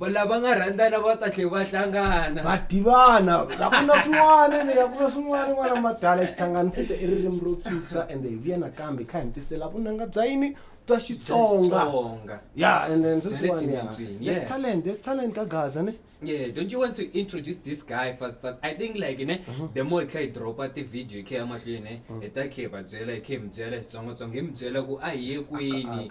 va lava nga rhandzana va ta tlhe va hlangana va tivana la ku na swin'wana ni nga ku na swin'wana n'wana madala xihlangano futa i ririmi ro phyuphya ende hi vuya nakambe hi kha hi mi tisela vunanga bya yini bya xitsonga Xitsonga. ya ende ndzi Bya le swin'wana ya timitswini, there's yeah. talent there's talent ka gaza ni Yeah, don't you want to introduce this guy first first? I think like ne, Uh-huh. the more kai drop at the video kai amahlweni, eta kai babyela, kai mbyela, tsongo tsongo, mbyela ku a ye kwini.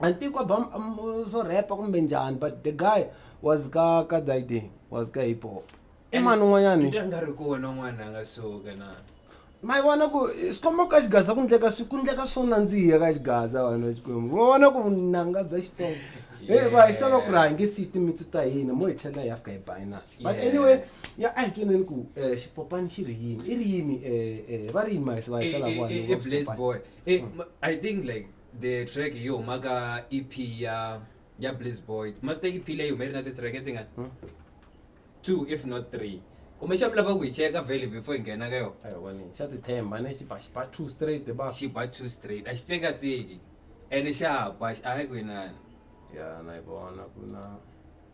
a ni tivi ku ba swo repa kumbe njhani but the guy was ka ka diding was ka hip hop i mani un'wanyani Nta nga ri kona n'wana a nga suka na ma yi vona ku eh, swi komba ku ka xigaza ku ndleka swi ku ndleka swo nandziha ka xigaza vanhu va xikwembu va vona ku vunanga bya xitsongo e va hi sava ku ri hange siyi timitsu ta hina mo hi tlhela hi ya fika hi binus but Yeah. anyway ya a hi tweneni ku um xipopani xi ri yini i ri yini um va ri yini mahisa va hisela Eh, eh, eh, eh, Blaze Boy. Eh, ma- I think like the track hi huma ka ep ya ya bliss boy master ep leyi hume ri na ti-track ti nga hmm? two if not three kumbexana mi lava ku hi cheka vele before hi nghena ka yona xa tithemba ne xiba xiba two straight ba xiba two straight a xi tsekatseki ene xa ba a hi ku inani ya na yi vona ku na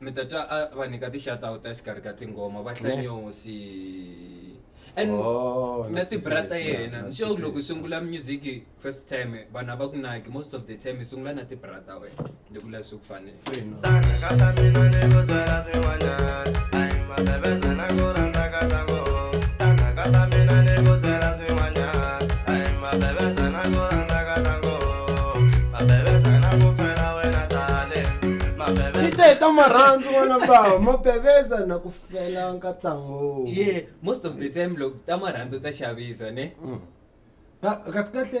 mi ta twa a va nyika ti-shoutout exikarhi ka tinghoma va hlanyosi and Oh, na na swi tibra ta swi- yena na swi so swi- loko u sungula music first time vanhu a va ku naki most of the time i sungula na tibra ta wena loko u lavi swi ku fanele Free, no. Kata mina ni ku tswela tin'wanyana Ai mabebeza na ku rhandza kata ngo Tana kata mina ni ku tswela marhandzu n'wana bava mo beveza na ku fela nkatango ye most of the time loko ta marhandzu ta xavisa ne mm. kahle kahle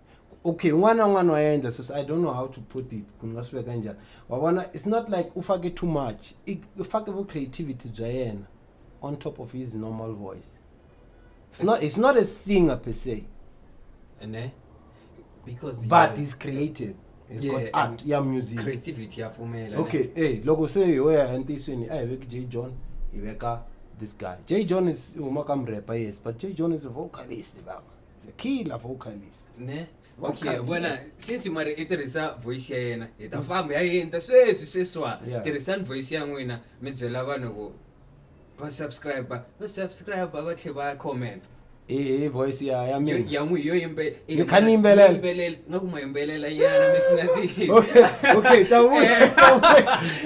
okay un'wana na un'wana wa endla sweswi i don't know how to put it ku ni nga swi veka njhani wa vona it's not like u fake too much u fake vu creativity bya yena on top of his normal voice it's not, it's not a singer per se ne because but he's creative It's yeah, got art ya music creativity yapfumela okay hey eh, loko se ho ya entiyisweni a hi veki j john hi veka this guy j john is huma ka mrepa yes but j john is a vocalist baba It's a killer vocalist. ne okay Vocalist. vona since mari i tirhisa voice ya yena hi ta famba ya yenta sweswi sweswa Yeah. tirhisani voice ya n'wina mi byela vanhu ku va subscribe va subscribe va tlhe va comment Hi hi voice ya ya Yo- mina. ya n'wi yo yimbe- Mi kha ni yimbelela? yo yimbelela nga ku ma yimbelela nyana mi sina ti Okay, okay, ta vuya.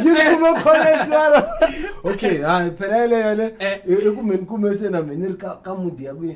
Yi kuma comments wala. Okay, ha phela yeleyo le. Eh. I ku meni kume se na mina ri ka ka mood ya ku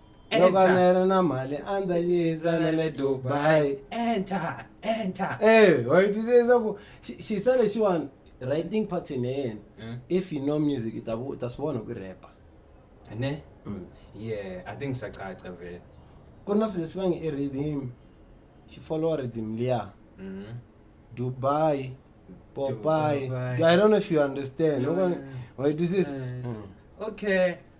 loko a ni ri na mali a ni ta xiyisa na le dubai enter enter eh wa yi twisisa leswaku xi- xiyisa lexiwani writing pattern ya yena Mm. if you know music i ta vu- i ta swi vona ku repa ne Mm. yeah i think swa caca vele ku na swilo leswi va nge i rhythm xi followa rhythm liya Mhm. dubai popai Dubai. i don't know if you understand No, no, no. wa yi twisisa Mm. okay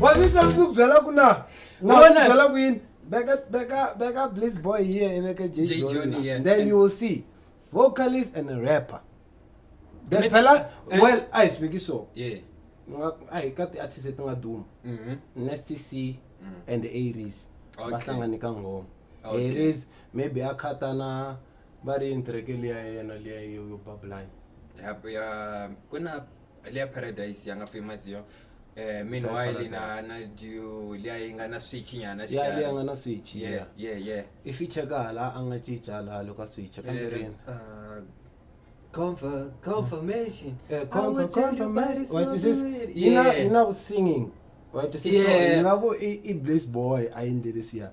wanita ndzi ku byela ku na na ku Wena- byela ku yini beka beka beka bliss boy here iveke j J. Jonah Jonah, yeah. then you will see vocalist and a rapper then Maybe- phela and- well a hi swi veki so Yeah. Nga- a hi ka ti-artist leti nga duma Mhm. nstc and aries va Okay. hlangane ka ngoma Okay. aries maybe a khata na va ri yini kereke liya ya yena liya yo yo babulani ya ya ku na leya paradise ya nga famous yo eh meanwhile na na ju leya yi nga na switch nyana ya liya nga na switch yeah ya yeah yeah i feature ka hala a nga cinca laha loko a switcha kambe Eh, rini uh, conf- confirmation Eh, I comfort- will tell you comfort- by this what is this? moment. Ina- Yeah. ina ku singing Wa twisisa? Yeah. Yi nga ku i i blaze boy a yendlele siya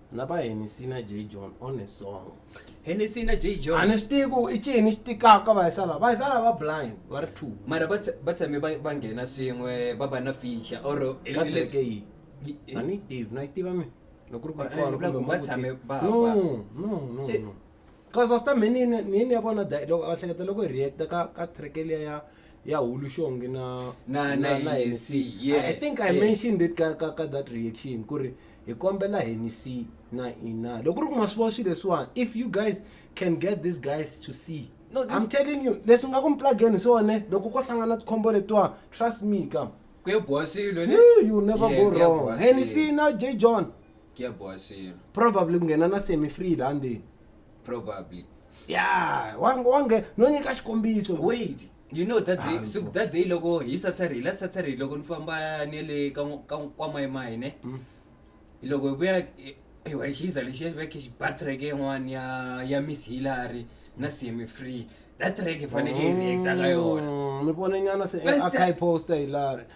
na va henisi na j john on a song henisi na j john a ni swi tivi ku i cini xi tikaka vayisala vayisala va blind va ri two mara va tse- va tshame va va nghena swin'we va va na feature or ka kereke yihi a ni yi tivi na yi tiva mi loko ri ku Eh, kona loko kumbe va tshame mavutisa. va- no va- no no Se- no cause after me ni ni- ni ni ya vona da- loko a hleketa loko hi reacta ka ka track liya ya ya hulu xongi na Na- na NEC, yeah, i think i yeah. mentioned it ka ka ka that reaction ku ri hi kombela hi ni see na ina loko ri ku ma swi vona swilo leswiwani if you guys can get these guys to see No, this- i'm telling you leswi nga ku mi plugeni swone loko ko hlangana tikhombo letiwa trust me ka ku ya boha swilo ne Eh, you never Yeah, go ku ya wrong boha heni swilo. see na j john ku ya boha swilo probably ku nghena na semi free laha ndzeni probably ya wange wange no nyika xikombiso wait you know that day, so that day loko hi saturday last saturday loko ni famba ni le ka n'w- ka n'w- kwa mayimayi ne Mm. loko hi vuya hi- hi wa hi xiza lexi ya veke xi ba track yin'wani ya ya miss hillary na semi free that track hi faneke hi reacta ka yona Mm, ni vone nyana se First- akayi poster hilari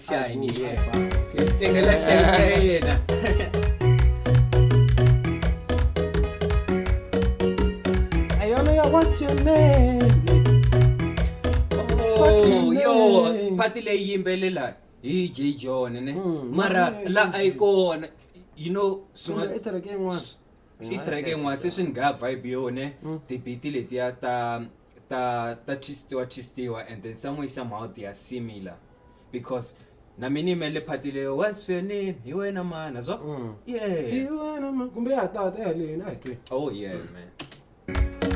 shine ye ngela shine yena Ayana ya what's your name? Oh, yo party leyi yimbelela hi j john ne Mm, mara mm, la mm, a yi kona you know Sungula swin'wa- ekereke yin'wana. swi track yin'wana se swi ni nga vibe yone tibiti letiya ta ta ta twistiwa twistiwa and then some way somehow they are similar because na mina ime le phati leyo what's your name hi wena mana zwa Mm. yeah Iwana ma- kumbe ya tata ya lena a hi twi oh yeah man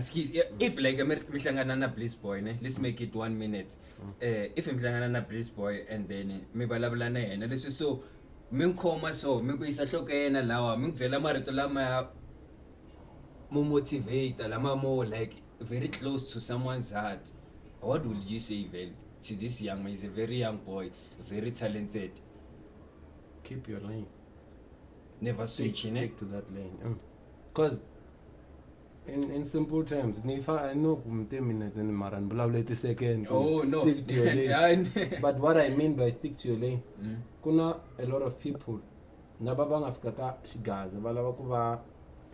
askies if like mihlangana na bliss boy ne let's make it one minute uh, if mihlangana na bliss boy and then mi vulavula na yena leswi so mi n'wi khoma so mi ku yisa nhloko ya yena lawa mi n'wi byela marito lamaya mo motivate-a lama mo like very close to someone's heart what will you say vhele to this young man he's a very young boy very talented keep your lane never switch ne stick to that lane mm. cause In, in simple terms, I know minutes and Maran Blavleti second. Oh, no. Stick to your lane. but what I mean by stick to your lane, mm. kuna a lot of people, naba bangafika ka shigaza, balava kuva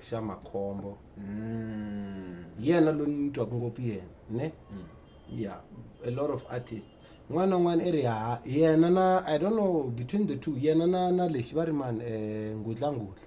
xa makhombo mm. yena lo ni twaka ngopfu yena ne mm. yeah a lot of artists n'wana n'wana i ri ha yena na i don't know between the two yena na na lexi va ri mani um eh, ngudlangudla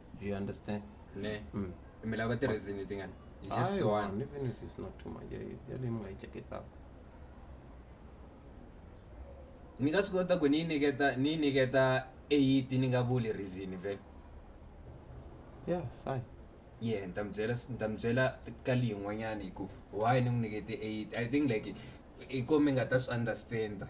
Do you understand? Ne. Mm. Me lava the reason you think it's just I one. one. Even if it's not too much, I really might check it out. ni nga swi kota ku ni nyiketa ni nyiketa eight ni nga vuli reason vele yeah sai yeah ni ta mi byela ni ta mi byela ka leyi yin'wanyana hi ku why ni n'wi nyikete eight i think like hi ko mi nga ta swi understand-a